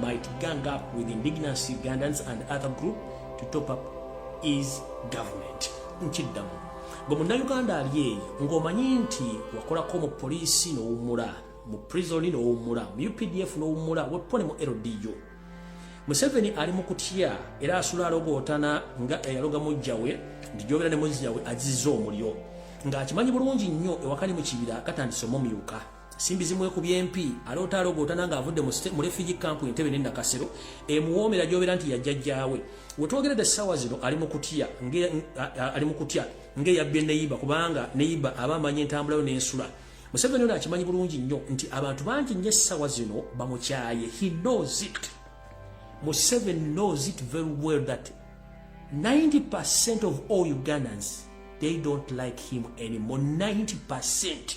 might gang up with indigenous Ugandans and other group to top up is government nkiddamu gwe munnayuganda ali eyo ng'omanyi nti wakolako mu poliisi n'owummula mu prisoni n'owummula mu updf n'owummula wepo ne mu ldu museveni ali mu kutya era asula alogootana nga eyaloga mujjawe nti gyobera ne muzjawe aziza omulyo ng'akimanyi bulungi nnyo ewakali mu kibira katandise omumyuka simbi zimwekubya empi aloota alogootana nga avudde mu refugee camp entebe ne nakasero emuwoomera gyobera nti yajjajjaawe wetwogerede essaawa zino ali mu kutya ali mu kutya ng'eyabbye neyiba kubanga neyiba aba amanyi entambulayo n'ensula museveni ono akimanyi bulungi nnyo nti abantu bangi nnyo essaawa zino bamukyaye he knows it museveni knows it very well that 90 percent of all ugandans they don't like him anymore 90 percent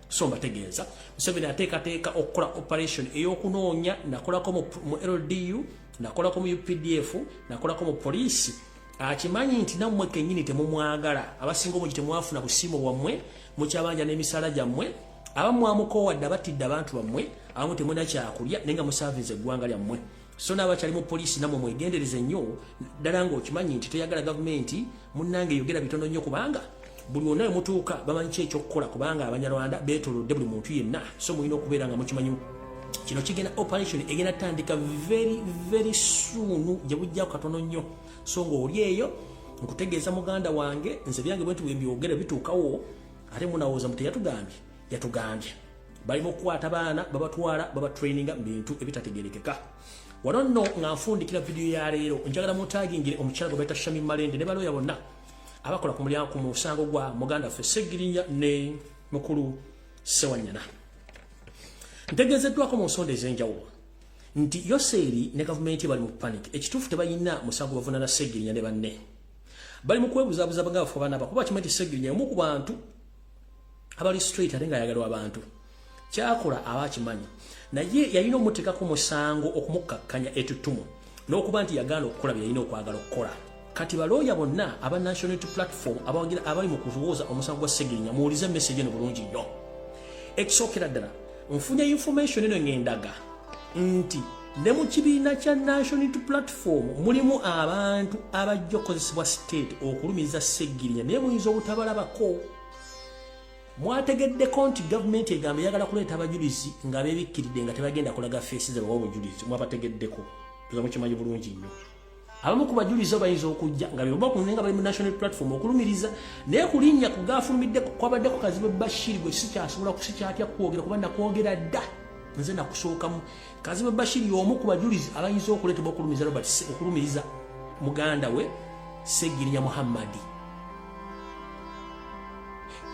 so mbategeeza museveni ateekateeka okukola operation ey'okunoonya nakolako mu ldu nakolako mu updf nakolako mu poliisi akimanyi nti nammwe kennyini temumwagala abasinga obungi temwafuna busiimo bwammwe mukyabanja n'emisaala gyammwe abamu amukoowadde abatidde abantu bammwe abamu temuna kyakulya naye nga musaavinze eggwanga lyammwe so n'abakyali mu poliisi namwe mwegendereze nnyo ddala ng'okimanyi nti toyagala gavumenti munnange yogera bitono nnyo kubanga buli wonna we mutuuka bamanyi ki ekyokukola kubanga abanyarwanda beetolodde buli muntu yenna so mulina okubeera nga mukimanyi kino kigenda operation egenda tandika very very suunu gye bujjako katono nnyo so ng'oli eyo nkutegeeza muganda wange nze byange bwenti bwembyogera bituukawo ate munawooza muteyatugambye yatugambye bali mu kukwata baana babatwala babatraininga mu bintu ebitategerekeka wano nno nga nfundikira vidiyo ya leero njagala mutagingire omukyala gwe baita shami malende ne balooya bonna abakola ku mulyango ku musango gwa muganda ffe segirinya ne mukulu sewanyana ntegeezeddwako mu nsonda ez'enjawulo nti yoseeri ne gavumenti bali mu panic ekituufu tebalina musango bavunana segirinya ne banne bali mu kwebuzabuza nga bafa banaaba kuba kimanyi ti segirinya omu ku bantu abali straight ate nga yagalwa abantu kyakola aba akimanyi naye yalina omuteekako musango okumukkakkanya etutumu n'okuba nti yagaana okukola bye yalina okwagala okukola kati balooya bonna aba national unity platform abawagira abali mu kuwooza omusango gwa segirinya muwulize emesegi eno bulungi nnyo ekisookera ddala nfunye information eno ng'endaga nti ne mu kibiina kya nation to platform mulimu abantu abajja okukozesebwa state okulumiza seggirinya naye muyinza obutabalabako mwategeddeko nti gavumenti egamba eyagala kuleeta abajulizi nga bebikkiride nga tebagenda kulaga feesi zabawa obujulizi mwabategeddeko tuza mukimanyi bulungi nnyo abamu ku bajulizi bayinza okujja nga beba ku nenga bali mu national platform okulumiriza naye kulinnya ku gaafulumidde kwabadde ku kazibu bashiri gwe sikyasobola kusikyatya kwogera kuba nakwogera dda nze nakusookamu kazibu bashiri y'omu ku bajulizi abayinza okuleetebwa okulumiriza robert okulumiriza muganda we segirinya muhammadi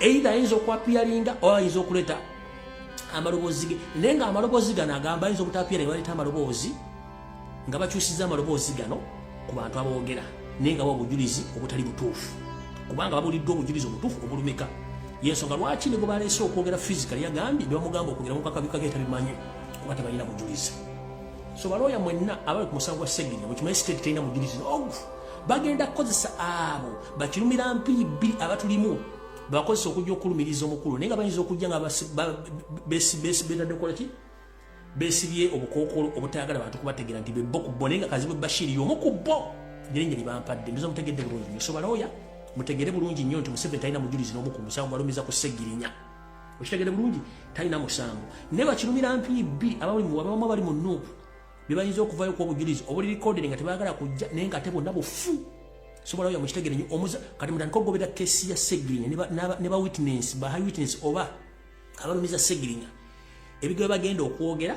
eitha ayinza okwapiyalinga oba ayinza okuleeta amaloboozi ge naye nga amaloboozi gano agamba ayinza obutapiyalinga baleeta amaloboozi nga bakyusiza amaloboozi gano ku bantu aboogera naye nga obujulizi obutali butuufu kubanga babuliddwa obujulizi obutuufu obulumika yensonga lwaki ne gwe baleese okwogera fizikali yagambye ne bamugamba okwogera mu kakabikako etabimanyi kuba tebalina bujulizi so balooya mwenna abali ku musango gwa segirinya mukimanyi siteeti terina mujulizi nogu bagenda kukozesa abo bakirumira mpiri bbiri abatulimu bakozesa okujja okulumiriza omukulu naye nga bayinza okujja nga betadde kukola ki besibye obukookolo obutayagala bantu kubategeera nti bebbo ku bo naye nga kazibwe bashiri yomu ku bo ngeri ngeri bampadde ndoza mutegedde bulungi nyo sobalooya mutegere bulungi nnyo nti museveni talina mujulizi n'omu ku musango gwalumiza ku segirinya okitegere bulungi talina musango naye bakirumira mpiibbi ababamu abali mu nuupu bebayinza okuvayo ku obujulizi obuli likodere nga tebagala kujja naye nga ate bonna bufu sobalooya mukitegere nyo omuza kati mutandika okugoberera kesi ya segirinya ne ba witness ba high witness oba abalumiza segirinya ebigoba bagenda okwogera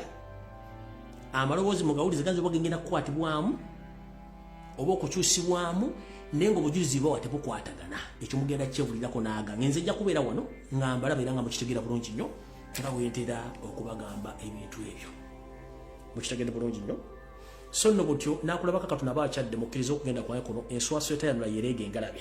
amaloboozi mu gawulize ganza oba gengenda kukwatibwamu oba okukyusibwamu naye nga obujulizi bwawa tebukwatagana ekyo mugenda kyebulirako naaga ngenze ejja kubeera wano nga mbalaba era nga mukitegeera bulungi nnyo nga wentera okubagamba ebintu ebyo mukitegede bulungi nnyo so nno butyo nakulabako katonda aba akyadde mukkiriza okugenda kwaye kuno enswaswa etayanula yereega engalabe